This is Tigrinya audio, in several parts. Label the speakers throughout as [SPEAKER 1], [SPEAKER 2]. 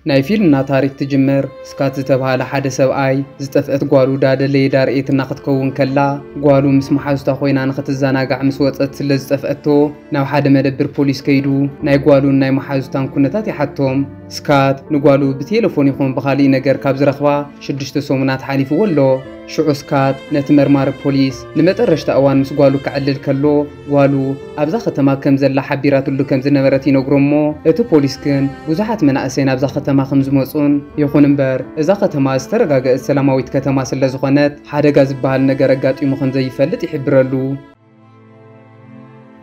[SPEAKER 1] ናይ ፊልምና ታሪክ ትጅምር ስካት ዝተብሃለ ሓደ ሰብኣይ ዝጠፍእት ጓሉ ዳደለየ ዳርኤትና ክትከውን ከላ ጓሉ ምስ መሓዙታ ኮይና ንክትዛናጋዕ ምስ ወጸት ስለ ዝጠፍኣቶ ናብ ሓደ መደብር ፖሊስ ከይዱ ናይ ጓሉን ናይ መሓዙታን ኩነታት ይሓቶም ስካት ንጓሉ ብቴለፎን ይኹን ብካሊእ ነገር ካብ ዝረክባ ሽዱሽተ ሰሙናት ሓሊፍዎ ኣሎ ሽዑ ስካት ነቲ መርማሪ ፖሊስ ንመጠረሽታ እዋን ምስ ጓሉ ከዕልል ከሎ ጓሉ ኣብዛ ከተማ ከም ዘላ ሓቢራትሉ ከም ዝነበረት ይነግሮ እሞ እቲ ፖሊስ ግን ብዙሓት መናእሰይ ናብዛ ከተማ ከም ዝመጹን ይኹን እምበር እዛ ከተማ ዝተረጋገእት ሰላማዊት ከተማ ስለ ዝኾነት ሓደጋ ዝበሃል ነገር ኣጋጢሙ ከም ዘይፈልጥ ይሕብረሉ።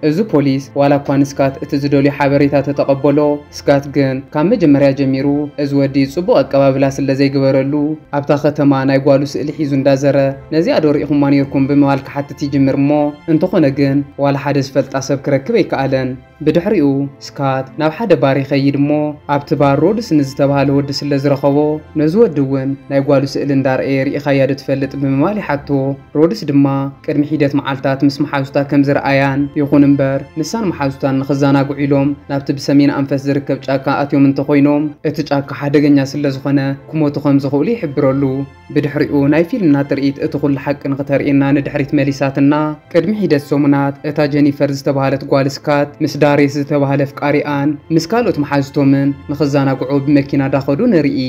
[SPEAKER 1] እዚ ፖሊስ ዋላ እኳ ንስካት እቲ ዝደልዮ ሓበሬታ ተተቐበሎ ስካት ግን ካብ መጀመርያ ጀሚሩ እዚ ወዲ ጽቡቕ ኣቀባብላ ስለ ዘይገበረሉ ኣብታ ከተማ ናይ ጓሉ ስእሊ ሒዙ እንዳዘረ ነዚኣ ዶ ርኢኹማ ኔርኩም ብምባል ክሓትት ይጅምር እሞ እንተኾነ ግን ዋላ ሓደ ዝፈልጣ ሰብ ክረክብ ኣይከኣለን። ብድሕሪኡ ስካት ናብ ሓደ ባር ይኸይድ እሞ ኣብቲ ባር ሮድስ ንዝተባህለ ወዲ ስለ ዝረኸቦ ነዚ ወዲ እውን ናይ ጓሉ ስእሊ እንዳርኣየ ርኢኻያ ዶ ትፈልጥ ብምባል ይሓቶ። ሮድስ ድማ ቅድሚ ሒደት መዓልታት ምስ መሓዙታ ከም ዝረኣያን ይኹን እምበር ንሳን መሓዙታን ንኽዘናግዑ ኢሎም ናብቲ ብሰሜን ኣንፈት ዝርከብ ጫካ ኣትዮም እንተኾይኖም እቲ ጫካ ሓደገኛ ስለ ዝኾነ ክሞቱ ከም ዝኽእሉ ይሕብረሉ። ብድሕሪኡ ናይ ፊልምና ትርኢት እቲ ዅሉ ሓቂ ንኽተርእየና ንድሕሪት መሊሳትና። ቅድሚ ሒደት ሰሙናት፣ እታ ጀኒፈር ዝተባህለት ጓል ስካት ምስ ዳሬስ ዝተባህለ ኣፍቃሪኣን ምስ ካልኦት መሓዙቶምን ንኽዘናግዑ ብመኪና እንዳኸዱ ንርኢ።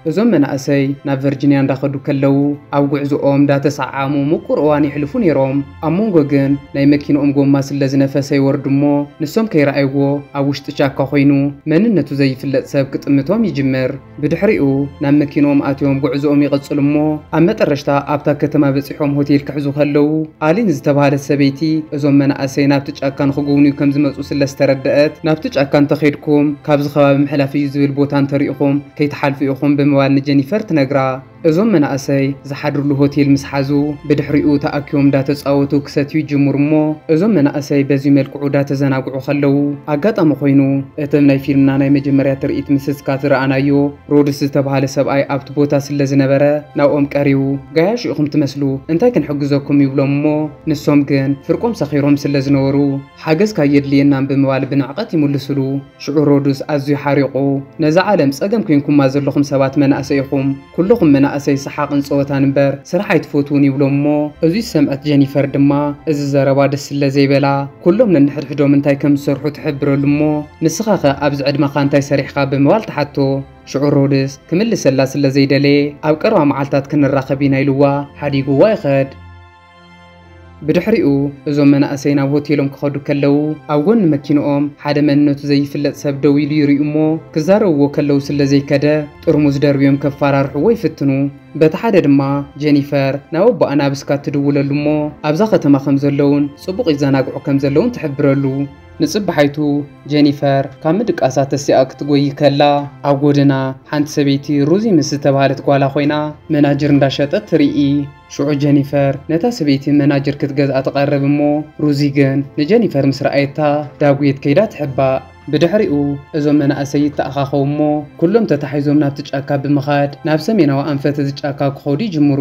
[SPEAKER 1] እዞም መናእሰይ ናብ ቨርጂንያ እንዳኸዱ ከለዉ ኣብ ጕዕዞኦም እንዳተሰዓዓሙ ምቁር እዋን የሕልፉ ነይሮም። ኣብ መንጎ ግን ናይ መኪንኦም ጎማ ስለ ዝነፈሰ ይወርዱ እሞ ንሶም ከይረኣይዎ ኣብ ውሽጢ ቻካ ኰይኑ መንነቱ ዘይፍለጥ ሰብ ክጥምቶም ይጅምር። ብድሕሪኡ ናብ መኪንኦም ኣትዮም ጉዕዝኦም ይቕጽሉ እሞ ኣብ መጠረሽታ ኣብታ ከተማ በጺሖም ሆቴል ክሕዙ ከለዉ ኣሊን ዝተባህለት ሰበይቲ እዞም መናእሰይ ናብቲ ጫካ ንኽጉብንዩ ከም ዝመጹ ስለ ዝተረደኣት ናብቲ ጫካ እንተኼድኩም ካብዚ ከባቢ ምሕላፍ እዩ ዝብል ቦታ እንተሪኢኹም ከይትሓልፉ ኢኹም ብምባል ንጀኒፈር ትነግራ። እዞም መናእሰይ ዝሓድርሉ ሆቴል ምስ ሓዙ ብድሕሪኡ ተኣኪቦም ዳተፃወቱ ክሰትዩ ይጅምሩ እሞ እዞም መናእሰይ በዙይ መልክዑ ዳተዘናግዑ ከለው ኣጋጣሚ ኮይኑ እትም ናይ ፊልምና ናይ መጀመርያ ትርኢት ምስዝካት ዝረኣናዮ ሮድስ ዝተብሃለ ሰብኣይ ኣብቲ ቦታ ስለዝነበረ ናብኦም ቀሪቡ ጋያሹ ኢኹም ትመስሉ እንታይ ክንሕግዘኩም ይብሎም እሞ ንሶም ግን ፍርቆም ሰኺሮም ስለዝነበሩ ሓገዝካ የድልየናም ብምባል ብንዕቀት ይምልሱሉ። ሽዑ ሮዱስ ኣዝዩ ሓሪቑ ነዛ ዓለም ጸገም ኮይንኩማ ዘለኹም ሰባት መናእሰይ ኢኹም፣ ኩሉኹም መናእሰይ ሰሓቕን ጸወታን እምበር ስራሕ ኣይትፈትዉን ይብሎም እሞ፣ እዚ ዝሰምዐት ጀኒፈር ድማ እዚ ዘረባ ደስ ስለ ዘይበላ ኩሎም ነንሕድሕዶም እንታይ ከም ዝሰርሑ ትሕብረሉ እሞ፣ ንስኻኸ ኣብዚ ዕድመኻ እንታይ ሰሪሕኻ ብምባል ትሓቶ። ሽዑ ሮድስ ክምልሰላ ስለ ዘይደለየ ኣብ ቀረባ መዓልታት ክንራኸብ ኢና ኢሉዋ ሓዲጉዋ ይኸድ። ብድሕሪኡ እዞም መናእሰይ ናብ ሆቴሎም ክኸዱ ከለው ኣብ ጎኒ መኪንኦም ሓደ መንነቱ ዘይፍለጥ ሰብ ደው ኢሉ ይሪኡ እሞ ክዛረብዎ ከለው ስለ ዘይከደ ጥርሙዝ ደርብዮም ከፋራርሕዎ ይፍትኑ። በቲ ሓደ ድማ ጀኒፈር ናብ ኣቦኣ ናብ እስካት ትድውለሉ እሞ ኣብዛ ከተማ ከም ዘለውን ጽቡቕ ይዘናግዑ ከም ዘለውን ትሕብረሉ። ንጽባሓይቱ ጀኒፈር ካብ ምድቃሳ ተሲኣ ክትጎይ ከላ ኣብ ጎደና ሓንቲ ሰበይቲ ሩዚ ምስ ዝተባህለት ጓላ ኮይና መናጅር እንዳሸጠት ትሪኢ። ሽዑ ጀኒፈር ነታ ሰበይቲ መናጀር ክትገዝኣ ትቐርብ እሞ ሩዚ ግን ንጀኒፈር ምስ ረኣየታ ዳጉየት ከይዳ ትሕባእ። ብድሕሪኡ እዞም መናእሰይ ይተኣኻኸቡ እሞ ኩሎም ተታሒዞም ናብቲ ጫካ ብምኻድ ናብ ሰሜናዊ ኣንፈት እዚ ጫካ ክኸዱ ይጅምሩ።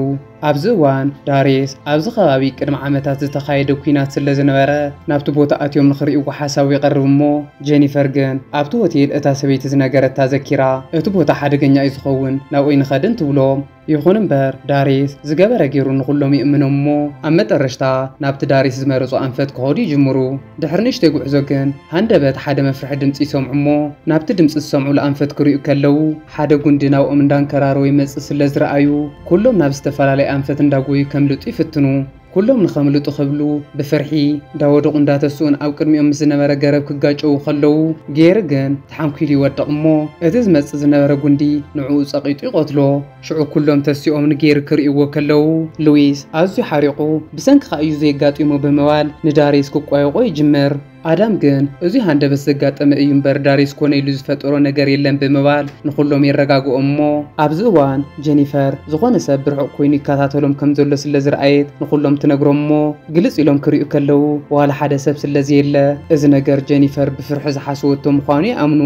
[SPEAKER 1] ኣብዚ እዋን ዳሬስ ኣብዚ ከባቢ ቅድሚ ዓመታት ዝተኻየደ ኲናት ስለዝነበረ ናብቲ ቦታ ኣትዮም ንኽርእይዎ ሓሳቡ የቕርብ እሞ ጀኒፈር ግን ኣብቲ ሆቴል እታ ሰበይቲ ዝነገረታ ዘኪራ እቲ ቦታ ሓደገኛ እዩ ዝኸውን ናብኡይ ንኸድን ትብሎም። ይኹን እምበር ዳሪስ ዝገበረ ገይሩ ንኹሎም ይእምኖም እሞ ኣብ መጠረሽታ ናብቲ ዳሪስ ዝመረጾ ኣንፈት ክኸዱ ይጅምሩ። ድሕሪ ንእሽተይ ጉዕዞ ግን ሃንደበት ሓደ መፍርሒ ድምጺ ይሰምዑ እሞ ናብቲ ድምጺ ዝሰምዑሉ ኣንፈት ክሪኡ ከለዉ ሓደ ጉንዲ ናብኦም እንዳንከራረወ ይመጽእ ስለዝረኣዩ ኩሎም ናብ ዝተፈላለየ ኣንፈት እንዳጎዩ ከምልጡ ይፍትኑ። ኩሎም ንኸምልጡ ክብሉ ብፍርሒ እንዳወደቑ እንዳተስኡን ኣብ ቅድሚኦም ምስ ዝነበረ ገረብ ክጋጨዉ ከለዉ፣ ጌሪ ግን ተሓንኲሉ ይወድቕ እሞ እቲ ዝመጽእ ዝነበረ ጉንዲ ንዕኡ ጸቒጡ ይቐትሎ። ሽዑ ኩሎም ተሲኦም ንጌሪ ክርእይዎ ከለዉ፣ ሉዊስ ኣዝዩ ሓሪቑ ብሰንክኻ እዩ ዘይጋጢሙ ብምባል ንዳርየስ ክቋየቖ ይጅምር። ኣዳም ግን እዙይ ሃንደበት ዘጋጠመ እዩ እምበር ዳርዮስ ኮነ ኢሉ ዝፈጠሮ ነገር የለን ብምባል ንኹሎም የረጋግኦም እሞ ኣብዚ እዋን ጀኒፈር ዝኾነ ሰብ ብርሑቕ ኮይኑ ይከታተሎም ከም ዘሎ ስለ ዝረኣየት ንኹሎም ትነግሮም እሞ ግልፅ ኢሎም ክሪኡ ከለው ዋላ ሓደ ሰብ ስለ ዘየለ እዚ ነገር ጀኒፈር ብፍርሒ ዝሓሰወቶ ምዃኑ ይኣምኑ።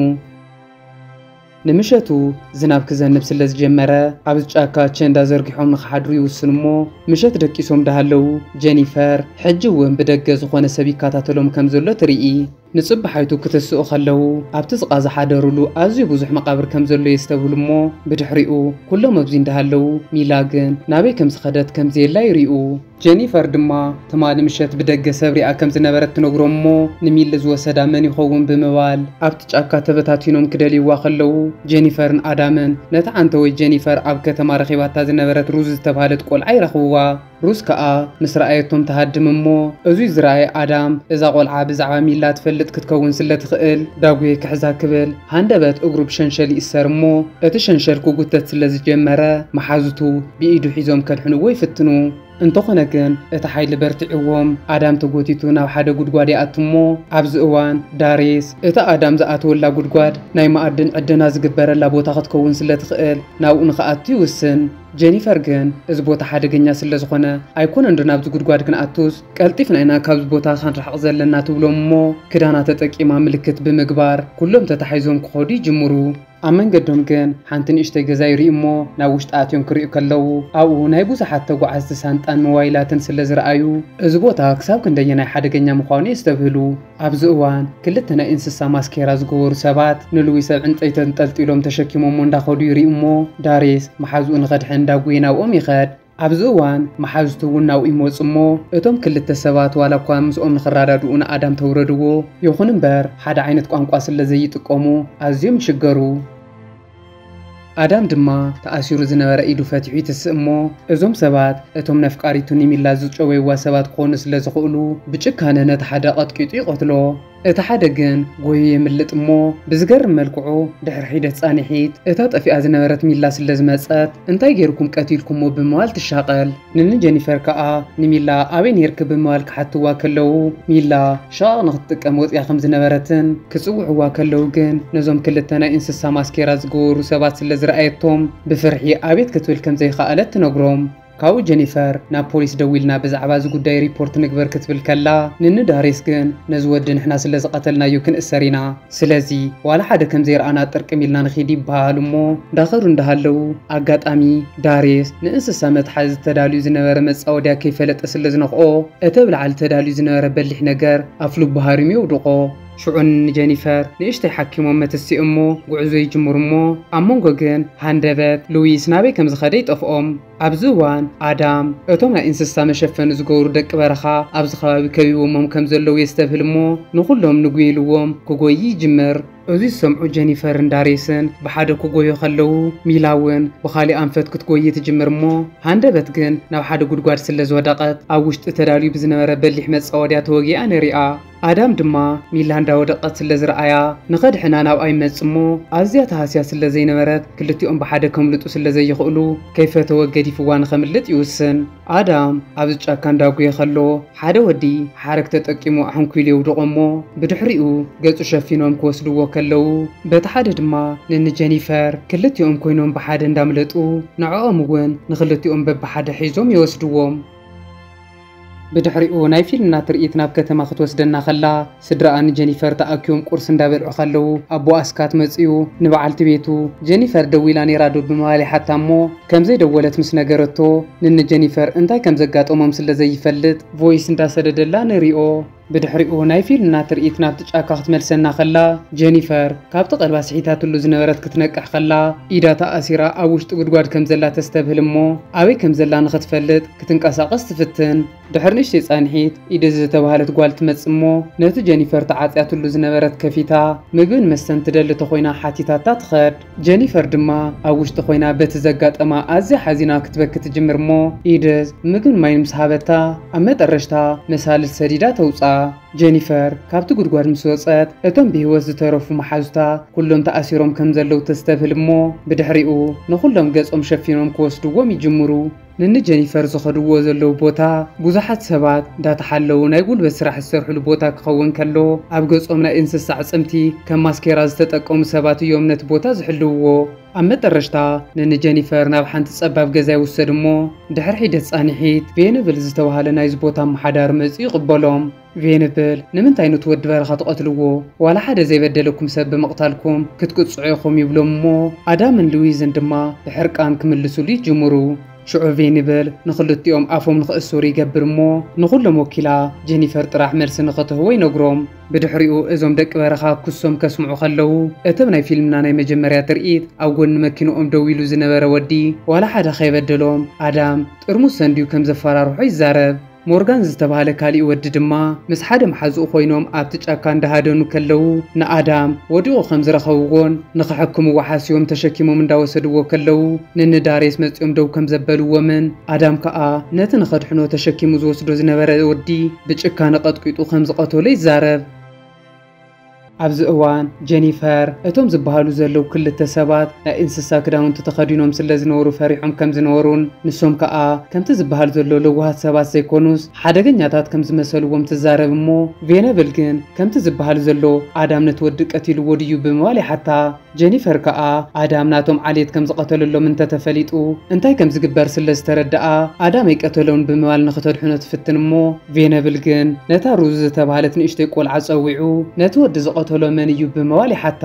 [SPEAKER 1] ንምሸቱ ዝናብ ክዘንብ ስለ ዝጀመረ ኣብዚ ጫካ ቸንዳ ዘርጊሖም ንኽሓድሩ ይውስኑ እሞ ምሸት ደቂሶም ዳሃለው ጀኒፈር ሕጂ እውን ብደገ ዝኾነ ሰብ ይከታተሎም ከም ዘሎ ትርኢ። ንጽባሓይቱ ክትስኡ ከለው ኣብቲ ዝቓ ዝሓደሩሉ ኣዝዩ ብዙሕ መቓብር ከም ዘሎ የስተብህሉ እሞ ብድሕሪኡ ኩሎም ኣብዚ እንዳሃለው ሚላ ግን ናበይ ከም ዝኸደት ከም ዘየላ ይሪኡ። ጀኒፈር ድማ ትማሊ ምሸት ብደገ ሰብ ሪኣ ከም ዝነበረት ትነግሮም እሞ ንሚሊ ዝወሰዳ መን ይኸውን ብምባል ኣብቲ ጫካ ተበታቲኖም ክደልይዋ ከለዉ ጀኒፈርን ኣዳምን ነታ ዓንተወይ ጀኒፈር ኣብ ከተማ ረኺባታ ዝነበረት ሩዝ ዝተብሃለት ቆልዓ ይረኽብዋ ሩዝ ከኣ ምስ ረኣየቶም ትሃድም እሞ እዙይ ዝረኣየ ኣዳም እዛ ቆልዓ ብዛዕባ ሚላ ትፈልጥ ክትከውን ስለ ትኽእል ዳጉየ ክሕዛ ክብል ሃንደበት እግሩ ብሸንሸል ይእሰር እሞ እቲ ሸንሸል ክጉተት ስለ ዝጀመረ መሓዙቱ ብኢዱ ሒዞም ከድሕንዎ ይፍትኑ። እንተኾነ ግን እቲ ሓይሊ በርቲዕዎም ኣዳም ተጎቲቱ ናብ ሓደ ጉድጓድ ይኣቱ እሞ ኣብዚ እዋን ዳርየስ እታ ኣዳም ዝኣተወላ ጉድጓድ ናይ መኣድን ዕደና ዝግበረላ ቦታ ክትከውን ስለ ትኽእል ናብኡ ንኽኣቱ ይውስን። ጀኒፈር ግን እዚ ቦታ ሓደገኛ ስለ ዝኾነ ኣይኮነንዶ ናብዚ ጉድጓድ ክንኣቱስ ቀልጢፍና ኢና ካብዚ ቦታ ከንርሕቕ ዘለና ትብሎም እሞ ክዳና ተጠቂማ ምልክት ብምግባር ኩሎም ተታሒዞም ክኸዱ ይጅምሩ። ኣብ መንገዶም ግን ሓንቲ ንእሽተይ ገዛ ይርእዩ እሞ ናብ ውሽጢ ኣትዮም ክርእዩ ከለዉ ኣብኡ ናይ ብዙሓት ተጓዓዝቲ ሳንጣን ሞባይላትን ስለዝረኣዩ እዚ ቦታ ክሳብ ክንደየናይ ሓደገኛ ምዃኑ የስተብህሉ። ኣብዚ እዋን ክልተ ናይ እንስሳ ማስኬራ ዝገበሩ ሰባት ንልዊስ ኣብ ዕንጸይቲ ኣንጠልጢሎም ተሸኪሞሞ እንዳኸዱ ይርእዩ እሞ ዳሪስ መሓዝኡ ንኸድሕን እንዳጎየ ናብኦም ይኸድ። ኣብዚ እዋን መሓዙቱ እውን ናብኡ ይመጹ እሞ እቶም ክልተ ሰባት ዋላ እኳ ምስኦም ንኽራዳድኡ ንኣዳም ተውረድዎ ይኹን እምበር ሓደ ዓይነት ቋንቋ ስለ ዘይጥቀሙ ኣዝዮም ይሽገሩ። ኣዳም ድማ ተኣሲሩ ዝነበረ ኢዱ ፈቲሑ ይትስእ እሞ እዞም ሰባት እቶም ነፍቃሪቱ ኒሚላ ዝጨወይዋ ሰባት ክኾኑ ስለ ዝኽእሉ ብጭካነ ነቲ ሓደ ቀጥቂጡ ይቐትሎ። እቲ ሓደ ግን ጎዩ የምልጥ እሞ ብዝገርም መልክዑ ድሕሪ ሒደት ፃኒሒት እታ ጠፊኣ ዝነበረት ሚላ ስለ ዝመፀት እንታይ ገይርኩም ቀቲልኩሞ ብምባል ትሻቐል ንኒ ጀኒፈር ከዓ ንሚላ ኣበይ ነይርኪ ብምባል ክሓትዋ ከለው ሚላ ሽቓቕ ንክትጥቀም ወፂኣ ከም ዝነበረትን ክፅውዕዋ ከለው ግን ነዞም ክልተ ናይ እንስሳ ማስኬራ ዝገበሩ ሰባት ስለ ዝረኣየቶም ብፍርሒ ኣቤት ክትብል ከም ዘይኸኣለት ትነግሮም። ካብኡ ጀኒፈር ናብ ፖሊስ ደዊልና ብዛዕባ እዚ ጉዳይ ሪፖርት ንግበር ክትብል ከላ ንኒ ዳሪስ ግን ነዚ ወዲ ንሕና ስለ ዝቐተልናዮ ክንእሰር ኢና ስለዚ ዋላ ሓደ ከም ዘይረኣና ጥርቅም ኢልና ንኺድ ይበሃሃሉ እሞ ዳኸዱ እንዳሃለዉ ኣጋጣሚ ዳሪስ ንእንስሳ መትሓዚ ተዳልዩ ዝነበረ መጻወድያ ከይፈለጠ ስለ ዝነኽኦ እቲ ኣብ ላዕሊ ተዳልዩ ዝነበረ በሊሕ ነገር ኣፍልቡ ሃሪሙ የውድቖ ሽዑ ንጀኒፈር ንእሽተይ ሓኪሞም መትስእ እሞ ጉዕዞ ይጅምሩ እሞ ኣብ መንጎ ግን ሃንደበት ሉዊስ ናበይ ከም ዝኸደ ይጠፍኦም። ኣብዚ እዋን ኣዳም እቶም ናይ እንስሳ መሸፈኒ ዝገብሩ ደቂ በረኻ ኣብዚ ከባቢ ከቢቦሞም ከም ዘለዉ የስተብህል እሞ ንኹሎም ንጉይልዎም ክጎዪ ይጅምር። እዚ ዝሰምዑ ጀኒፈርን ዳርየስን ብሓደ ክጎዩ ከለዉ ሚላ እውን ብኻሊእ ኣንፈት ክትጎዪ ትጅምር እሞ ሃንደበት ግን ናብ ሓደ ጉድጓድ ስለ ዝወደቐት ኣብ ውሽጢ ተዳልዩ ብዝነበረ በሊሕ መጻወድያ ተወጊኣ ንሪኣ። ኣዳም ድማ ሚላ እንዳ ወደቀት ስለ ዝረኣያ ንኸድሕና ናብኣ ይመጽእ እሞ ኣዝያ ተሃስያ ስለ ዘይነበረት ክልቲኦም ብሓደ ከምልጡ ስለ ዘይኽእሉ ከይፈተወ ገዲፍዋ ንኸምልጥ ይውስን። ኣዳም ኣብዚ ጫካ እንዳጉየ ከሎ ሓደ ወዲ ሓረግ ተጠቂሙ ኣሕንኲሉ የውድቆ እሞ ብድሕሪኡ ገጹ ሸፊኖም ክወስድዎ ከለዉ በቲ ሓደ ድማ ንኒ ጀኒፈር ክልቲኦም ኮይኖም ብሓደ እንዳምለጡ ንዕኦም እውን ንኽልቲኦም በብሓደ ሒዞም ይወስድዎም። ብድሕሪኡ ናይ ፊልምና ትርኢት ናብ ከተማ ክትወስደና ከላ፣ ስድራኣ ንጀኒፈር ተኣኪቦም ቁርሲ እንዳበልዑ ከለዉ ኣቦ ኣስካት መጺኡ ንበዓልቲ ቤቱ ጀኒፈር ደዊላ ኔራ ዶ ብምባል ይሓታ እሞ ከምዘይ ደወለት ምስ ነገረቶ ንንጀኒፈር እንታይ ከምዘጋጠሞም ስለዘይፈልጥ ቮይስ እንዳሰደደላ ንሪኦ። ብድሕሪኡ ናይ ፊልምና ትርኢት ናብቲ ጫካ ክትመልሰና ከላ፣ ጀኒፈር ካብቲ ቀልባ ስሒታትሉ ዝነበረት ክትነቅሕ ከላ፣ ኢዳ ተኣሲራ ኣብ ውሽጢ ጉድጓድ ከም ዘላ ተስተብህል እሞ ኣበይ ከም ዘላ ንኽትፈልጥ ክትንቀሳቐስ ትፍትን። ድሕሪ ንእሽተይ ጻንሒት ኢድዝ ዝተባህለት ጓል ትመጽእ እሞ ነቲ ጀኒፈር ተዓጽያትሉ ዝነበረት ከፊታ ምግብን መስተን ትደሊ ተኾይና ሓቲታታ ትኸድ። ጀኒፈር ድማ ኣብ ውሽጢ ኮይና በቲ ዘጋጠማ ኣዝያ ሓዚና ክትበኪ ትጅምር እሞ ኢድት ምግብን ማይን ምስ ሃበታ ኣብ መጠረሽታ መሳልል ሰዲዳ ተውጽኣ። ጀኒፈር ካብቲ ጉድጓድ ምስ ወጸት እቶም ብህይወት ዝተረፉ መሓዙታ ኩሎም ተኣሲሮም ከም ዘለዉ ተስተብህል እሞ ብድሕሪኡ ንኹሎም ገጾም ሸፊኖም ክወስድዎም ይጅምሩ። ንእኒ ጀኒፈር ዝኸድዎ ዘለዉ ቦታ ብዙሓት ሰባት እንዳተሓለዉ ናይ ጉልበት ስራሕ ዝሰርሕሉ ቦታ ክኸውን ከሎ ኣብ ገጾም ናይ እንስሳ ኣዕጽምቲ ከም ማስኬራ ዝተጠቀሙ ሰባት እዮም ነቲ ቦታ ዝሕልውዎ። ኣብ መጠረሽታ ንእኒ ጀኒፈር ናብ ሓንቲ ጸባብ ገዛ ይውሰድሞ ድሕሪ ሒደት ጻኒሒት ቬንብል ዝተባህለ ናይዚ ቦታ ኣመሓዳሪ መጺኡ ይቕበሎም። ቬንብል ንምንታይ ኑቲ ወዲ በረኻ ትቐትልዎ ዋላ ሓደ ዘይበደለኩም ሰብ ብምቕታልኩም ክትቅጽዑ ኢኹም ይብሎም እሞ ኣዳምን ልዊዝን ድማ ብሕርቃን ክምልሱሉ ይጅምሩ ሽዑ ቬንብል ንኽልቲኦም ኣፎም ንኽእሰሩ ይገብር እሞ ንኹሎም ወኪላ ጀኒፈር ጥራሕ መልሲ ንኽትህቦ ይነግሮም ብድሕሪኡ እዞም ደቂ በረኻ ክሶም ከስምዑ ከለዉ እቲ ኣብ ናይ ፊልምና ናይ መጀመርያ ትርኢት ኣብ ጎኒ መኪንኦም ደው ኢሉ ዝነበረ ወዲ ዋላ ሓደ ከይበደሎም ኣዳም ጥርሙዝ ሰንድዩ ከም ዘፈራርሖ ይዛረብ ሞርጋን ዝተባህለ ካሊእ ወዲ ድማ ምስ ሓደ መሓዝኡ ኮይኖም ኣብቲ ጫካ እንዳሃደኑ ከለው ንኣዳም ወዲቑ ከም ዝረኸብዎን ንኽሕክምዎ ሓሲቦም ተሸኪሞም እንዳወሰድዎ ከለው ንንዳሬስ መጺኦም ደው ከም ዘበልዎምን ኣዳም ከኣ ነቲ ንኸድሕኖ ተሸኪሙ ዝወስዶ ዝነበረ ወዲ ብጭካነ ቀጥቂጡ ከም ዝቐተሎ ይዛረብ። ኣብዚ እዋን ጀኒፈር እቶም ዝበሃሉ ዘለዉ ክልተ ሰባት ናይ እንስሳ ክዳውንቲ ተኸዲኖም ስለ ዝነበሩ ፈሪሖም ከም ዝነበሩን ንሶም ከኣ ከምቲ ዝበሃል ዘሎ ለዋሃት ሰባት ዘይኮኑስ ሓደገኛታት ከም ዝመሰልዎም ትዛረብ እሞ ቬነብል ግን ከምቲ ዝበሃል ዘሎ ኣዳም ነቲ ወዲ ቀቲልዎ ድዩ ብምባል ይሓታ። ጀኒፈር ከኣ ኣዳም ናቶም ዓሌት ከም ዝቐተለሎም እንተ ተፈሊጡ እንታይ ከም ዝግበር ስለ ዝተረድኣ፣ ኣዳም ኣይቀተሎን ብምባል ንኽተድሕኖ ትፍትን እሞ፣ ቬነብል ግን ነታ ሩዝ ዝተባህለት ንእሽቶይ ቈልዓ ጸዊዑ ነቲ ወዲ ዝቐተሎ መን እዩ? ብምባል ይሓታ።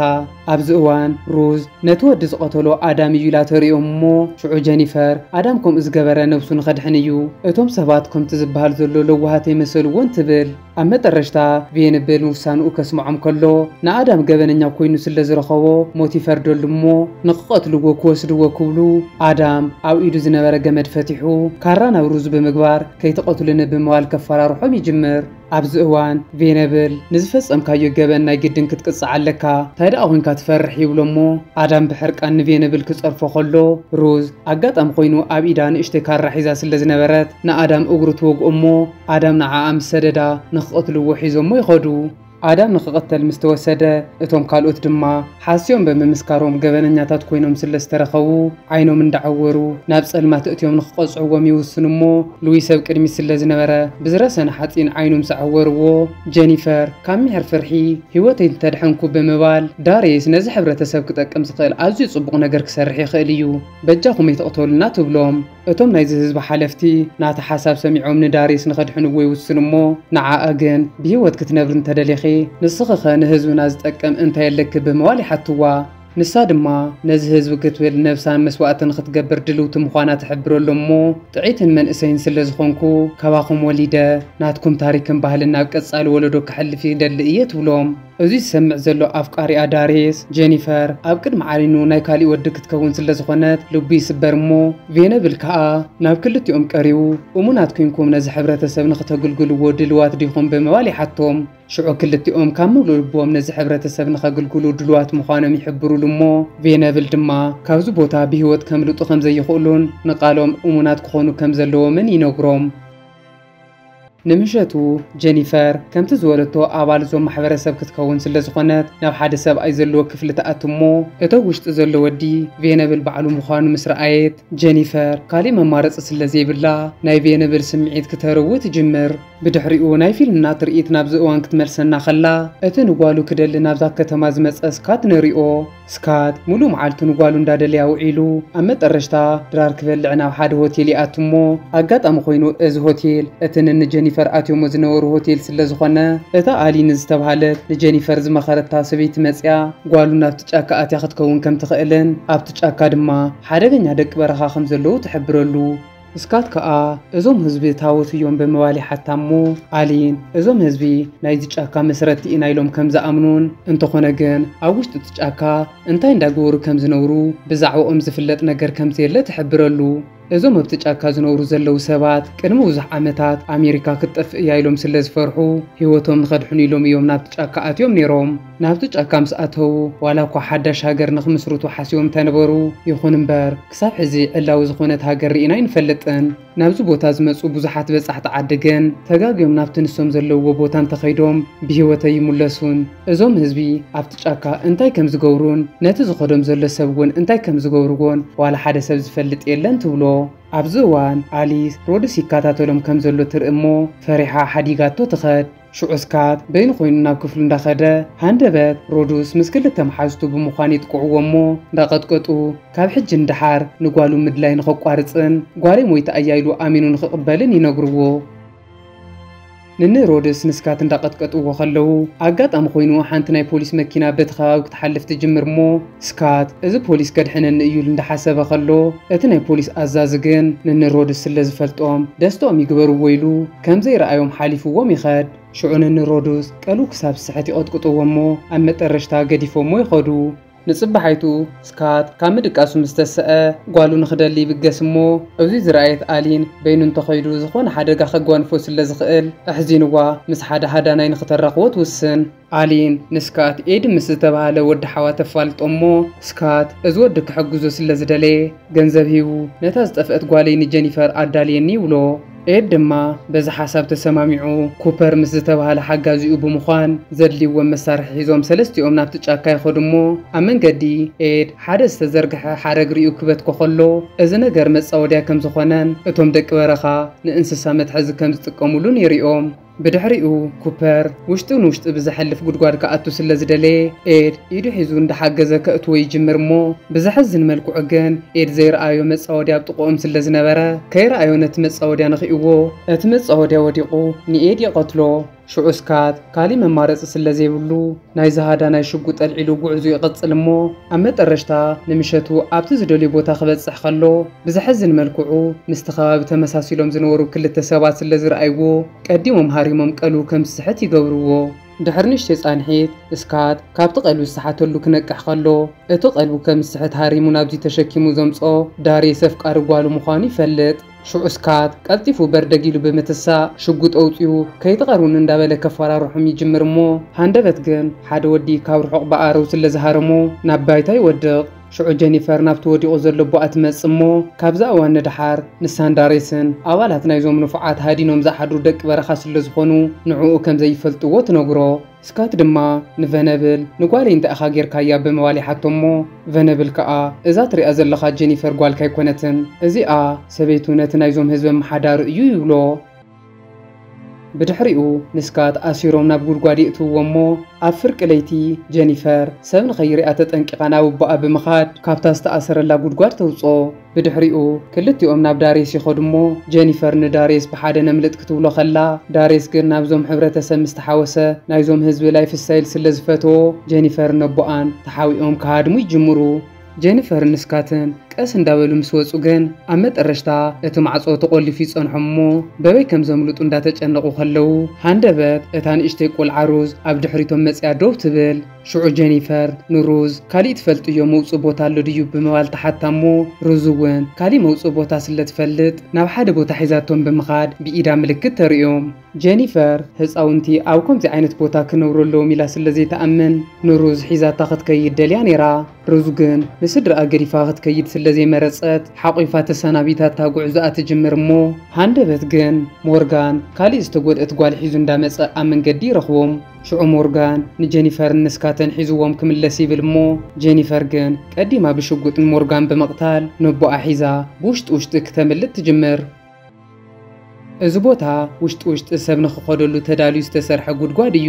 [SPEAKER 1] ኣብዚ እዋን ሩዝ ነቲ ወዲ ዝቐተሎ ኣዳም እዩ ኢላ ተርእዮም እሞ፣ ሽዑ ጀኒፈር ኣዳም ከምኡ ዝገበረ ነብሱ ንኸድሕን እዩ፣ እቶም ሰባት ከምቲ ዝበሃል ዘሎ ለዋሃት ኣይመሰልዎን ትብል። ኣብ መጠረሽታ ቬንብል ንውሳንኡ ከስምዖም ከሎ ንኣዳም ገበነኛ ኮይኑ ስለ ዝረኸቦ ሞት ይፈርደሉ እሞ ንክቐትልዎ ክወስድዎ ክብሉ ኣዳም ኣብ ኢዱ ዝነበረ ገመድ ፈቲሑ ካራ ናብ ሩዙ ብምግባር ከይትቐትሉኒ ብምባል ከፈራርሖም ይጅምር ኣብዚ እዋን ቬንብል ንዝፈጸምካዮ ገበን ናይ ግድን ክትቅጻዕ ኣለካ ታይ ደኣ ኮንካ ትፈርሕ ይብሎ እሞ ኣዳም ብሕርቃን ንቬንብል ክጸርፎ ከሎ ሩዝ ኣጋጣሚ ኮይኑ ኣብ ኢዳ ንእሽተይ ካራ ሒዛ ስለ ዝነበረት ንኣዳም እግሩ ትወግኦ እሞ ኣዳም ንዓኣ ምስ ሰደዳ ንኽቐትልዎ ሒዞሞ ይኸዱ። ኣዳም ንኽቕተል ምስ ተወሰደ እቶም ካልኦት ድማ ሓስዮም ብምምስካሮም ገበነኛታት ኮይኖም ስለ ዝተረኸቡ ዓይኖም እንዳዓወሩ ናብ ጸልማት እእትዮም ንኽቐጽዕዎም ይውስኑ እሞ ልዊስ ኣብ ቅድሚት ስለ ዝነበረ ብዝረሰነ ሓጺን ዓይኑ ምስ ዓወርዎ ጀኒፈር ካብ ሚሕር ፍርሒ ህይወተይ እንተድሐንኩ ብምባል ዳርየስ ነዚ ሕብረተሰብ ክጠቅም ዝኽእል ኣዝዩ ጽቡቕ ነገር ክሰርሕ ይኽእል እዩ በጃኹም ኣይትቕተሉና ትብሎም። እቶም ናይዚ ህዝቢ ሓለፍቲ ናታ ሓሳብ ሰሚዖም ንዳሪስ ንኸድሕንዎ ይውስኑ እሞ ንዓኣ ግን ብሂወት ክትነብሪ እንተደሊኺ ንስኺኸ ንህዝብና ዝጠቅም እንታይ ኣለኪ ብምባል ይሓትዋ። ንሳ ድማ ነዚ ህዝቢ ክትብል ነብሳን መስዋእቲ ንኽትገብር ድልውቲ ምዃና ትሕብረሎም እሞ ጥዕይትን መንእሰይን ስለዝኾንኩ ካባኹም ወሊደ ናትኩም ታሪክን ባህልን ናብ ቀፃሊ ወለዶ ከሕልፍ ይደሊ እየ ትብሎም። እዚ ዝሰምዕ ዘሎ ኣፍቃሪኣ ዳርየስ፣ ጀኒፈር፣ ኣብ ቅድሚ ዓይኑ ናይ ካሊእ ወዲ ክትከውን ስለ ዝኾነት ልቡ ይስበር እሞ ቬነብል ካኣ ናብ ክልቲኦም ቀሪቡ እሙናት ኩንኩም ነዚ ሕብረተሰብ ንኽተግልግልዎ ድልዋት ዲኹም ብምባል ይሓቶም ሽዑ ክልቲኦም ካብ ምሉእ ልቦም ነዚ ሕብረተሰብ ንኸግልግሉ ድልዋት ምዃኖም ይሕብርሉ እሞ ቬነብል ድማ ካብዚ ቦታ ብሂወት ከምልጡ ከምዘይኽእሉን ንቃሎም እሙናት ክኾኑ ከምዘለዎምን ይነግሮም። ንምሸቱ ጀኒፈር ከምቲ ዝበለቶ ኣባል እዞም ማሕበረሰብ ክትከውን ስለ ዝኾነት ናብ ሓደ ሰብኣይ ዘለዎ ክፍሊ ትኣቱ እሞ እቶ ውሽጢ ዘሎ ወዲ ቬነብል ባዕሉ ምዃኑ ምስ ረኣየት ጀኒፈር ካሊእ መማረፂ ስለ ዘይብላ ናይ ቬነብል ስምዒት ክተርዊ ትጅምር። ብድሕሪኡ ናይ ፊልምና ትርኢት ናብዚ እዋን ክትመልሰና ከላ እቲ ንጓሉ ክደሊ ናብዛ ከተማ ዝመፀ ስካት ንሪኦ። ስካት ሙሉእ መዓልቱ ንጓሉ እንዳደለየ ኣውዒሉ ኣብ መጠረሽታ ድራር ክበልዕ ናብ ሓደ ሆቴል ይኣቱ እሞ ኣጋጣሚ ኮይኑ እዚ ሆቴል እቲ ንን ጀኒፈር ኣትዮሞ ዝነበሩ ሆቴል ስለ ዝኾነ እታ ኣሊ ንዝተብሃለት ንጀኒፈር ዝመኸረታ ሰበይቲ መፅያ ጓሉ ናብቲ ጫካ ኣትያ ክትከውን ከምትኽእልን ኣብቲ ጫካ ድማ ሓደገኛ ደቂ በረኻ ከምዘለዉ ትሕብረሉ እስካት ከኣ እዞም ህዝቢ ታዎት እዮም ብምባል ይሓታ እሞ ኣሊን እዞም ህዝቢ ናይዚ ጫካ መስረቲ ኢና ኢሎም ከም ዝኣምኑን እንተኾነ ግን ኣብ ውሽጢ እቲ ጫካ እንታይ እንዳገበሩ ከም ዝነብሩ ብዛዕብኦም ዝፍለጥ ነገር ከም ዘየለ ትሕብረሉ። እዞም ኣብቲ ጫካ ዝነብሩ ዘለዉ ሰባት ቅድሚ ብዙሕ ዓመታት ኣሜሪካ ክትጠፍእ እያ ኢሎም ስለ ዝፈርሑ ህይወቶም ንኸድሕኑ ኢሎም እዮም ናብቲ ጫካ ኣትዮም ነይሮም። ናብቲ ጫካ ምስ ኣተዉ፣ ዋላ እኳ ሓዳሽ ሃገር ንኽምስርቱ ሓሲቦም እንተነበሩ፣ ይኹን እምበር ክሳብ ሕዚ ዕላዊ ዝኾነት ሃገር ርኢና ኣይንፈልጥን። ናብዚ ቦታ ዝመጹ ብዙሓት በጻሕቲ ዓዲ ግን ተጋግዮም ናብቲ ንሶም ዘለዉዎ ቦታ እንተኸይዶም ብህይወት ኣይምለሱን። እዞም ህዝቢ ኣብቲ ጫካ እንታይ ከም ዝገብሩን ነቲ ዝኸዶም ዘሎ ሰብ እውን እንታይ ከም ዝገብርዎን ዋላ ሓደ ሰብ ዝፈልጥ የለን ትብሎ። ኣብዚ እዋን ኣሊስ ሮድስ ይከታተሎም ከም ዘሎ ትርኢ እሞ ፈሪሓ ሓዲጋቶ ትኸድ። ሽዑ ስካት በይኑ ኮይኑ ናብ ክፍሉ እንዳኸደ ሃንደበት ሮዱስ ምስ ክልተ መሓዙቱ ብምዃን የጥቅዕዎ እሞ እንዳቐጥቀጡ ካብ ሕጂ ንደሓር ንጓሉ ምድላይ ንኸቋርጽን ጓለይ ሞይታ እያ ኢሉ ኣሚኑ ንኽቕበልን ይነግርዎ። ንኒ ሮድስ ንስካት እንዳቐጥቀጥዎ ከለዉ ኣጋጣሚ ኮይኑ ሓንቲ ናይ ፖሊስ መኪና በቲ ከባቢ ክትሓልፍ ትጅምር እሞ ስካት እዚ ፖሊስ ከድሕነኒ እዩ ኢሉ እንዳሓሰበ ከሎ እቲ ናይ ፖሊስ ኣዛዚ ግን ንንሮድስ ስለ ዝፈልጦም ደስትኦም ይግበርዎ ኢሉ ከምዘይ ረኣዮም ሓሊፍዎም ይኸድ ሽዑ ንንሮዱስ ቀልቡ ክሳብ ዝስሕት ይቐጥቅጥዎ እሞ ኣብ መጠረሽታ ገዲፎሞ ይኸዱ። ንጽባሓይቱ ስካት ካብ ምድቃሱ ምስ ተሰኣ ጓሉ ንክደሊ ይብገስ እሞ እዙይ ዝረኣየት ኣሊን በይኑ እንተኸይዱ ዝኾነ ሓደጋ ከጓንፎ ስለ ዝኽእል ኣሕዚንዋ ምስ ሓደ ሃዳናይ ንክተራኽቦ ትውስን። ኣሊን ንስካት ኤዲ ምስ ዝተባህለ ወዲ ሓዋ ተፋልጦ እሞ ስካት እዚ ወዲ ክሕግዞ ስለ ዝደለየ ገንዘብ ሂቡ ነታ ዝጠፍእት ጓለይ ንጀኒፈር ኣዳልየኒ ይብሎ ኤድ ድማ በዚ ሓሳብ ተሰማሚዑ ኩፐር ምስ ዝተባህለ ሓጋዚኡ ብምኳን ዘድልይዎም መሳርሒ ሒዞም ሰለስቲኦም ናብቲ ጫካ ይከዱ እሞ ኣብ መንገዲ ኤድ ሓደ ዝተዘርግሐ ሓረግ ሪኡ ክበትኮ ከሎ እዚ ነገር መፃወድያ ከም ዝኮነን እቶም ደቂ በረካ ንእንስሳ መትሐዚ ከም ዝጥቀምሉን የሪኦም ብድሕሪኡ ኩፐር ውሽጢ ንውሽጢ ብዘሕልፍ ጉድጓድ ክኣቱ ስለ ዝደለየ ኤድ ኢዱ ሒዙ እንዳሓገዘ ከእትዎ ይጅምር እሞ ብዘሕዝን መልክዑ ግን ኤድ ዘይረኣዮ መጻወድያ ኣብ ጥቅኦም ስለ ዝነበረ ከይረኣዮ ነቲ መጻወድያ ነኺእዎ እቲ መጻወድያ ወዲቁ ንኤድ ይቀትሎ ሽዑ ስካት ካሊእ መማረጺ ስለ ዘይብሉ ናይዚ ሃዳናይ ሽጉጥ ኣልዒሉ ጉዕዙ ይቕጽል እሞ ኣብ መጠረሽታ ንምሸቱ ኣብቲ ዝደልዮ ቦታ ክበጽሕ ከሎ ብዘሕዝን መልክዑ ምስቲ ከባቢ ተመሳሲሎም ዝነበሩ ክልተ ሰባት ስለ ዝርኣይዎ ቀዲሞም ሃሪሞም ቀልቡ ከም ዝስሕት ይገብርዎ። ድሕሪ ንእሽተይ ጻንሒት ስካት ካብቲ ቀልቢ ዝሰሓተሉ ክነቅሕ ከሎ እቲ ቀልቡ ከም ዝስሕት ሃሪሙ ናብዚ ተሸኪሙ ዘምጽኦ ዳርየስ ኣፍቃሪ ጓሉ ምዃኑ ይፈልጥ። ሽዑ ስካት ቀልጢፉ በርደግ ኢሉ ብምትሳእ ሽጉጥ ኣውጺኡ ከይትቐርቡኒ እንዳበለ ከፋራርሖም ይጅምር እሞ ሃንደበት ግን ሓደ ወዲ ካብ ርሑቕ ብኣረው ስለ ዝሃረሞ ናብ ባይታ ይወድቕ። ሽዑ ጀኒፈር ናብቲ ወዲቑ ዘሎ ኣቦኣ ትመጽእ እሞ ካብዛ እዋን ንደሓር ንሳን ዳሬስን ኣባላት ናይዞም ንፉዓት ሃዲኖም ዝሓድሩ ደቂ በረኻ ስለ ዝኾኑ ንዕኡ ከም ዘይፈልጥዎ ትነግሮ። ስካት ድማ ንቨነብል ንጓለይ እንታይ ኢኻ ጌርካያ ብምባል ይሓቶ'ሞ ቨነብል ከኣ እዛ ትሪኣ ዘለኻ ጀኒፈር ጓልካ ኣይኮነትን እዚኣ ሰበይቱ ነቲ ናይዞም ህዝቢ ኣመሓዳሪ እዩ ይብሎ። ብድሕሪኡ ንስካት ኣሲሮም ናብ ጉድጓድ የእትውዎ'ሞ ኣብ ፍርቂ ለይቲ ጀኒፈር ሰብ ንኸይሪኣ ተጠንቂቓ ናብ ኣቦኣ ብምኻድ ካብታ ዝተኣሰረላ ጉድጓድ ተውጽኦ። ብድሕሪኡ ክልቲኦም ናብ ዳርየስ ይኸዱ እሞ ጀኒፈር ንዳርየስ ብሓደ ነምልጥ ክትብሎ ከላ ዳርየስ ግን ናብዞም ሕብረተሰብ ምስ ተሓወሰ ናይዞም ህዝቢ ላይፍ ስታይል ስለ ዝፈትዎ ጀኒፈርን ኣቦኣን ተሓቢኦም ክሃድሙ ይጅምሩ። ጀኒፈርን ንስካትን ቀስ እንዳበሉ ምስ ወጹ ግን ኣብ መጠረሽታ እቲ ማዕጾ ተቆሊፉ ይጸንሖም እሞ በበይ ከም ዘምልጡ እንዳተጨነቁ ከለዉ ሃንደበት እታ ንእሽተይ ቆልዓ ሩዝ ኣብ ድሕሪቶም መጺኣ ደው ትብል። ሽዑ ጀኒፈር ንሩዝ ካሊእ ትፈልጥዮ መውፅኢ ቦታ ኣሎ ድዩ ብምባል ትሓታ እሞ ሩዝ እውን ካሊእ መውፅኢ ቦታ ስለ ትፈልጥ ናብ ሓደ ቦታ ሒዛቶም ብምኻድ ብኢዳ ምልክት ተርእዮም። ጀኒፈር ህፃውንቲ ኣብ ከምዚ ዓይነት ቦታ ክነብሩ ኣለዎም ኢላ ስለ ዘይትኣምን ንሩዝ ሒዛታ ክትከይድ ደልያ ነይራ። ሩዝ ግን ንስድራኣ ገዲፋ ክትከይድ ስለ ዘይመረጸት ሓቚፋ ተሰናቢታታ ጉዕዞኣ ትጅምር እሞ ሃንደበት ግን ሞርጋን ካልእ ዝተጎድኣት ጓል ሒዙ እንዳ መጸ ኣብ መንገዲ ይረኽቦም። ሽዑ ሞርጋን ንጀኒፈርን ንስካተን ሒዝዎም ክምለስ ይብል እሞ ጀኒፈር ግን ቀዲማ ብሽጉጥ ንሞርጋን ብምቕታል ነቦኣ ሒዛ ብውሽጢ ውሽጢ ክተምልጥ ትጅምር። እዚ ቦታ ውሽጢ ውሽጢ ሰብ ንኽኸደሉ ተዳልዩ ዝተሰርሐ ጉድጓድ እዩ።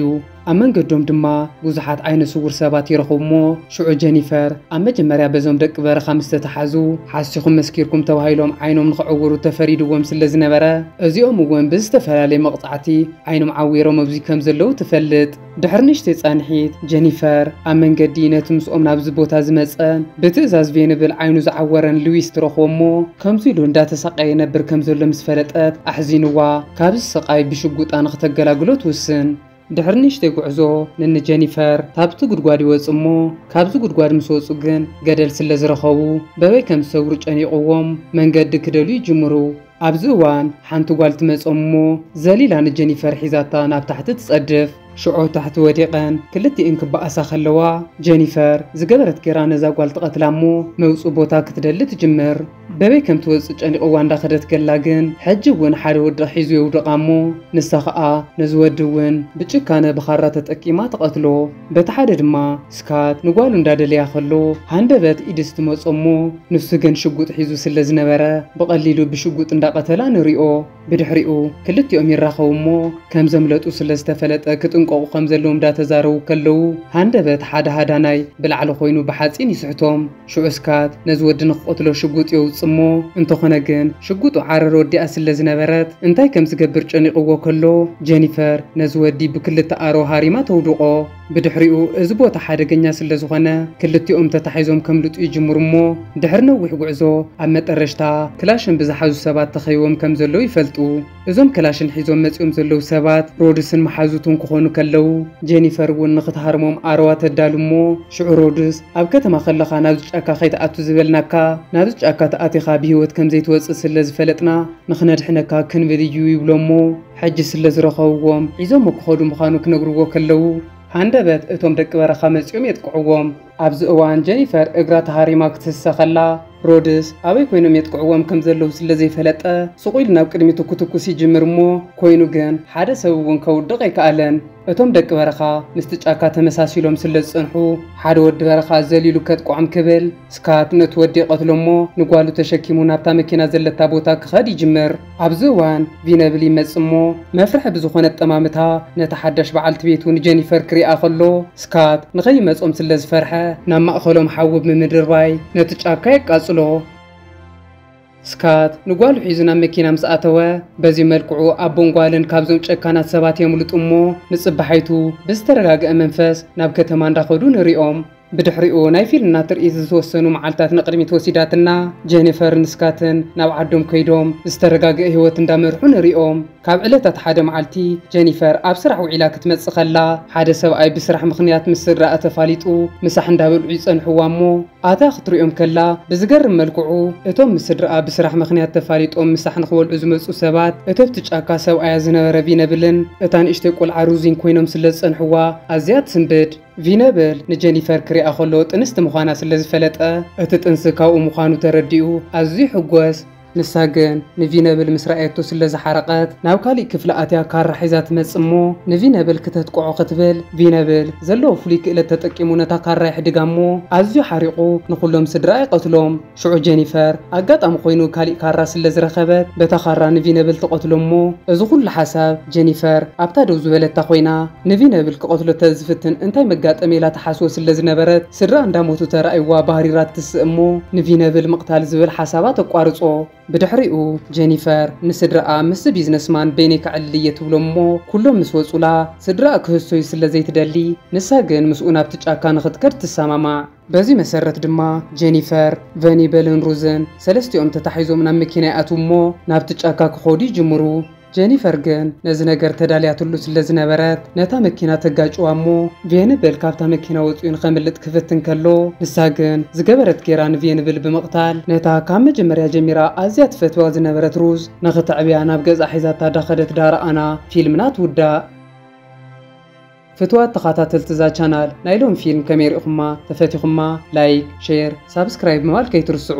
[SPEAKER 1] ኣብ መንገዶም ድማ ብዙሓት ዓይነ ስውር ሰባት ይረኽቡ'ሞ ሽዑ ጀኒፈር ኣብ መጀመርያ በዞም ደቂ በረኻ ምስ ተታሓዙ ሓሲኹም መስኪርኩም ተባሂሎም ዓይኖም ንኽዕውሩ ተፈሪድዎም ስለ ዝነበረ እዚኦም'ውን ብዝተፈላለየ መቕጻዕቲ ዓይኖም ዓዊሮም ኣብዙይ ከም ዘለዉ ትፈልጥ። ድሕሪ ንእሽተይ ጻንሒት፣ ጀኒፈር ኣብ መንገዲ ነቲ ምስኦም ናብዚ ቦታ ዝመጸን ብትእዛዝ ቬንብል ዓይኑ ዝዓወረን ሉዊስ ትረኽቦ እሞ፣ ከምዚ ኢሉ እንዳተሳቐየ ይነብር ከም ዘሎ ምስ ፈለጠት ኣሕዚኑዋ ካብዚ ስቓይ ብሽጉጣ ንኽተገላግሎ ትውስን። ድሕሪ ንእሽተይ ጉዕዞ ንን ጀኒፈር ካብቲ ጉድጓድ ይወጽኡ እሞ፣ ካብዚ ጉድጓድ ምስ ወጹ ግን ገደል ስለ ዝረኸቡ በበይ ከም ዝሰግሩ ጨኒቑዎም መንገዲ ክደልዩ ይጅምሩ። ኣብዚ እዋን ሓንቲ ጓል ትመጾም እሞ ዘሊላ ንጀኒፈር ሒዛታ ናብ ታሕቲ ትጸድፍ። ሽዑ ታሕቲ ወዲቐን ክልቲኤን ክበኣሳ ከለዋ ጀኒፈር ዝገበረት ጌራ ነዛ ጓል ትቐትላ እሞ መውጽኢ ቦታ ክትደሊ ትጅምር። በበይ ከም ትወጽእ ጨኒቑዋ እንዳኸደት ገላ ግን ሕጂ እውን ሓደ ወዲ ሒዙ የውድቓ እሞ ንሳ ከኣ ነዚ ወዲ እውን ብጭካነ ብኻራ ተጠቂማ ትቐትሎ። በቲ ሓደ ድማ ስካት ንጓሉ እንዳደለያ ከሎ ሃንደበት ኢድስ ትመጾ እሞ ንሱ ግን ሽጉጥ ሒዙ ስለ ዝነበረ ብቀሊሉ ብሽጉጥ እንዳቀተላ ንሪኦ ብድሕሪኡ ክልቲኦም ይራከቡ እሞ ከም ዘምለጡ ስለ ዝተፈለጠ ክጥንቀቁ ከም ዘለዎም እንዳተዛረቡ ከለዉ ሃንደበት ሓደ ሃዳናይ ብላዕሊ ኮይኑ ብሓጺን ይስሕቶም ሽዑ ስካት ነዚ ወዲ ንክቐትሎ ሽጉጥ የውጽእ እሞ እንተኾነ ግን ሽጉጡ ዓረር ወዲኣ ስለ ዝነበረት እንታይ ከም ዝገብር ጨኒቕዎ ከሎ ጀኒፈር ነዚ ወዲ ብክልተ ኣሮ ሃሪማ ተውድቖ። ብድሕሪኡ እዚ ቦታ ሓደገኛ ስለ ዝኾነ ክልቲኦም ተታሒዞም ከምልጡ ይጅምሩ እሞ ድሕሪ ነዊሕ ጉዕዞ ኣብ መጠረሽታ ክላሽን ብዝሓዙ ሰባት ተኸቢቦም ከም ዘለዉ ይፈልጡ። እዞም ከላሽን ሒዞም መጺኦም ዘለዉ ሰባት ሮድስን መሓዙቱን ክኾኑ ከለዉ፣ ጄኒፈር እውን ንኽትሃርሞም ኣረዋ ተዳሉ እሞ፣ ሽዑ ሮድስ፣ ኣብ ከተማ ከለኻ ናብዚ ጫካ ከይትኣቱ ዝበልናካ፣ ናብዚ ጫካ ተኣቲኻ ብህይወት ከም ዘይትወጽእ ስለ ዝፈለጥና ንኽነድሕነካ ክንብል እዩ ይብሎ እሞ፣ ሕጂ ስለ ዝረኸብዎም ሒዞሞ ክኸዱ ምዃኑ ክነግርዎ ከለዉ፣ ሃንደበት እቶም ደቂ በረኻ መጺኦም የጥቅዕዎም። ኣብዚ እዋን ጀኒፈር እግራ ተሃሪማ ክትስሰ ከላ፣ ሮድስ ኣበይ ኮይኖም የጥቅዕዎም ከም ዘለዉ ስለ ዘይፈለጠ፣ ሱቕ ኢሉ ናብ ቅድሚቱ ክትኩስ ይጅምር እሞ፣ ኮይኑ ግን ሓደ ሰብ እውን ከውድቕ ኣይከኣለን። እቶም ደቂ በረኻ ምስቲ ጫካ ተመሳሲሎም ስለ ዝጸንሑ፣ ሓደ ወዲ በረኻ ዘሊሉ ከጥቅዖም ክብል፣ ስካት ነቲ ወዲ ይቐትሎ እሞ ንጓሉ ተሸኪሙ ናብታ መኪና ዘለታ ቦታ ክኸድ ይጅምር። ኣብዚ እዋን ቪነብል ይመጽእ እሞ መፍርሒ ብዝኾነ ኣጠማምታ ነታ ሓዳሽ በዓልቲ ቤቱ ንጀኒፈር ክሪኣ ከሎ ስካት ንኸይመጾም ስለ ዝፈርሐ ናብ ማእኸሎም ሓዊ ብምድርባይ ነቲ ጫካ የቃጽሎ። ስካት ንጓሉ ሒዙ ናብ መኪና ምስ ኣተወ በዚ መልክዑ ኣቦን ጓልን ካብዞም ጨካናት ሰባት የምልጡ እሞ ንጽባሓይቱ ብዝተረጋገኣ መንፈስ ናብ ከተማ እንዳኸዱ ንሪኦም። ብድሕሪኡ ናይ ፊልምና ትርኢት ዝተወሰኑ መዓልታት ንቕድሚት ወሲዳትና፣ ጀኒፈርን ስካትን ናብ ዓዶም ከይዶም ዝተረጋግኤ ህይወት እንዳመርሑ ንሪኦም። ካብ ዕለታት ሓደ መዓልቲ ጀኒፈር ኣብ ስራሕ ውዒላ ክትመጽእ ከላ ሓደ ሰብኣይ ብስራሕ ምኽንያት ምስ ስድራኣ ተፋሊጡ ምሳሕ እንዳበልዑ ይጸንሕዋ እሞ ኣትያ ክትሪኦም ከላ ብዝገርም መልክዑ እቶም ምስ ስድራኣ ብስራሕ ምኽንያት ተፋሊጦም ምሳሕ ንኽበልዑ ዝመጹ ሰባት እቶብቲ ጫካ ሰብኣያ ዝነበረ ቪነብልን እታ ንእሽተይ ቆልዓ ሩዚን ኮይኖም ስለዝጸንሕዋ ኣዝያ ትስንብድ። ቪነብል ንጀኒፈር ክሪኣ ከሎ ጥንስቲ ምዃና ስለ ዝፈለጠ፣ እቲ ጥንሲ ካብኡ ምዃኑ ተረዲኡ ኣዝዩ ይሕጎስ። ንሳ ግን ንቪነብል ምስ ረኣየቶ ስለ ዝሓረቐት፣ ናብ ካሊእ ክፍሊ ኣትያ ካራ ሒዛ ትመጽእ እሞ ንቪነብል ክተትቅዖ ክትብል፣ ቪነብል ዘለዎ ፍሉይ ክእለት ተጠቂሙ ነታ ካራ የሕድጋ እሞ ኣዝዩ ሓሪቑ ንኹሎም ስድራኣ ይቐትሎም። ሽዑ ጀኒፈር ኣጋጣሚ ኮይኑ ካሊእ ካራ ስለ ዝረኸበት በታ ካራ ንቪነብል ትቐትሎ እሞ እዚ ኩሉ ሓሳብ ጀኒፈር ኣብታ ደው ዝበለታ ኮይና ንቪነብል ክቐትሎ ተዝፍትን እንታይ መጋጠመ ኢላ ትሓስቦ ስለ ዝነበረት ስድራኣ እንዳሞቱ ተራእይዋ ባህሪራ ትትስእ እሞ ንቪነብል ምቕታል ዝብል ሓሳባ ተቋርጾ። ብድሕሪኡ ጀኒፈር ንስድራኣ ምስዚ ቢዝነስማን በይነይ ከዕልል እየ ትብሎም እሞ ኩሎም ምስ ወጹላ ስድራኣ ክህሰዩ ስለ ዘይትደሊ ንሳ ግን ምስኡ ናብቲ ጫካ ንኽትከድ ትሰማማዕ። በዚ መሰረት ድማ ጀኒፈር፣ ቨኒበልን ሩዝን ሰለስቲኦም ተታሒዞም ናብ መኪና ይኣትዉ እሞ ናብቲ ጫካ ክኾዱ ይጅምሩ። ጀኒፈር ግን ነዚ ነገር ተዳልያትሉ ስለ ዝነበረት ነታ መኪና ተጋጭዋ እሞ ቬንብል ካብታ መኪና ወጺኡ ንኸምልጥ ክፍትን ከሎ ንሳ ግን ዝገበረት ጌራ ንቬንብል ብምቕታል ነታ ካብ መጀመርያ ጀሚራ ኣዝያ ትፈትዋ ዝነበረት ሩዝ ንኽተዕብያ ናብ ገዝኣ ሒዛታ ዳኸደት ዳርኣና ፊልምና ትውዳእ። ፍትዋት ተኻታተልቲ እዛ ቻናል ናይ ሎሚ ፊልም ከመይ ሪእኹማ ተፈቲኹማ ላይክ ሼር ሳብስክራይብ ምባል ከይትርስዑ።